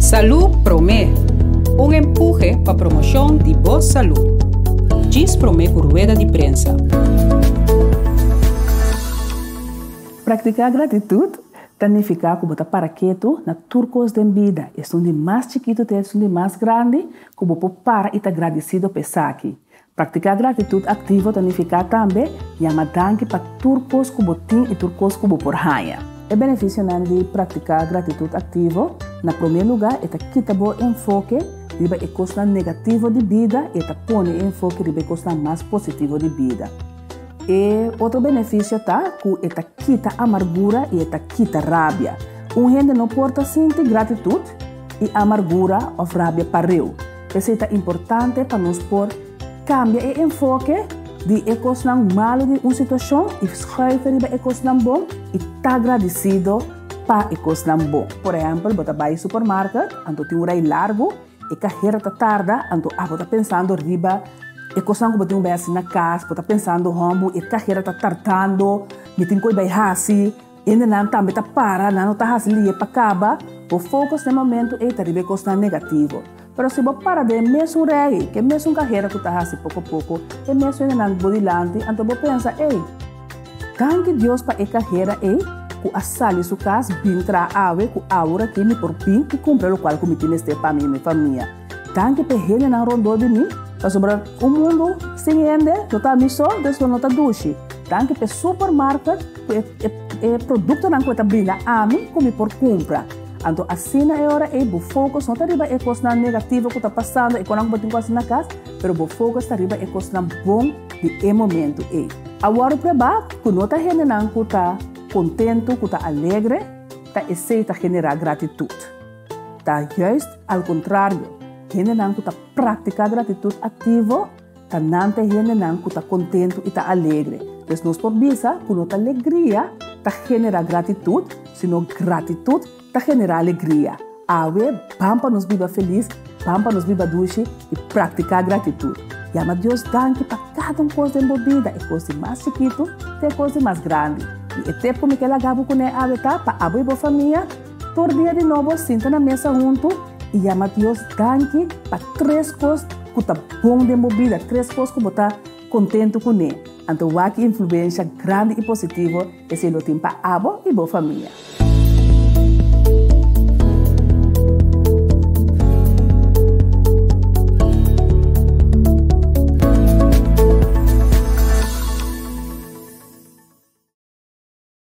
Salú Promé, Un empuje pa promoshon di bo salú. Djis promé ku rueda di prensa. Praktiká gratitut ta nifiká ku bo ta para ketu na tur kos den bida, esun di mas chikitu te esun di mas grandi, ku bo por para i ta gradisido pa esaki. Praktiká gratitut aktivo ta nifiká tambe yama danki pa tur kos ku bo tin i tur kos ku bo por haña. E benefisionan di praktiká gratitut aktivo, Na promé lugá, e ta kita bo enfoke riba e kosnan negativo di bida i e ta pone e enfoke riba e kosnan mas positivo di bida. E otro benefisio ta ku e ta kita amargura i e ta kita rabia. Un hende no por ta sinti gratitut i amargura òf rabia pa reu. P'esei ta importante pa nos por kambia e enfoke di e kosnan malu di un situashon i skuife riba e kosnan bon i ta gradisido pa e kosnan bon. Por ehèmpel, bo ta bai supermarket, anto tin un rei largu, e kahera ta tarda, anto abo ta pensando riba e kosnan ku bo tin un bes na kas, bo ta pensando, Hòmbu, e kahera ta tardando, mi tin koi bai hasi. Ende nan tambe ta para, nan no ta hasi lie pa kaba. Bo focus den momento ey ta riba e cosnan negativo. Pero si bo para den e mesun regi, ke mesun cahera cu ta hasi poco poco, e mesun ende nan bo dilanti, anto bo pensa, ey, Danki Dios pa e cahera ey cu a sali su cas bin traha awe, cu awor aki mi por bin y cumpra locual cu mi tin mester pa mi y mi famia. Danki p'e hendenan rondó di mi, pasobra un mundu sin hende lo ta mi so, dus lo no ta dushi. Danki p'e supermarket ku e e produktonan ku e ta brinda ami ku mi por kumpra. Anto asina e ora ei bo fokus no ta riba e kosnan negativo ku ta pasando, e kosnan ku bo tin ku hasi na kas, pero bo fokus ta riba e kosnan bon di e momentu ei. Awor probá ku no ta hendenan ku ta kontentu, ku ta alegre, ta esei ta generá gratitut. Ta juist al kontrario, hendenan ku ta praktiká gratitut aktivo ta nan ta e hendenan ku ta kontentu i ta alegre. Pues nos por bisa ku no ta legria ta generá gratitut, sino gratitut ta generá alegria. Awe, ban pa nos biba felis, ban pa nos biba dushi i praktiká gratitut. Yama Dios danki pa kada un kos den bo bida, e kos di mas chikitu te e kos di mas grandi. I e tep ku mi ke laga bo kuné awe ta pa abo i bo famia. Tur dia di nobo sinta na mesa huntu i yama Dios danki pa tres kos ku ta bon den bo bida, tres kos ku bo ta kontentu kuné. Anto wak influensha grandi i positivo esei lo tin pa abo i bo famia.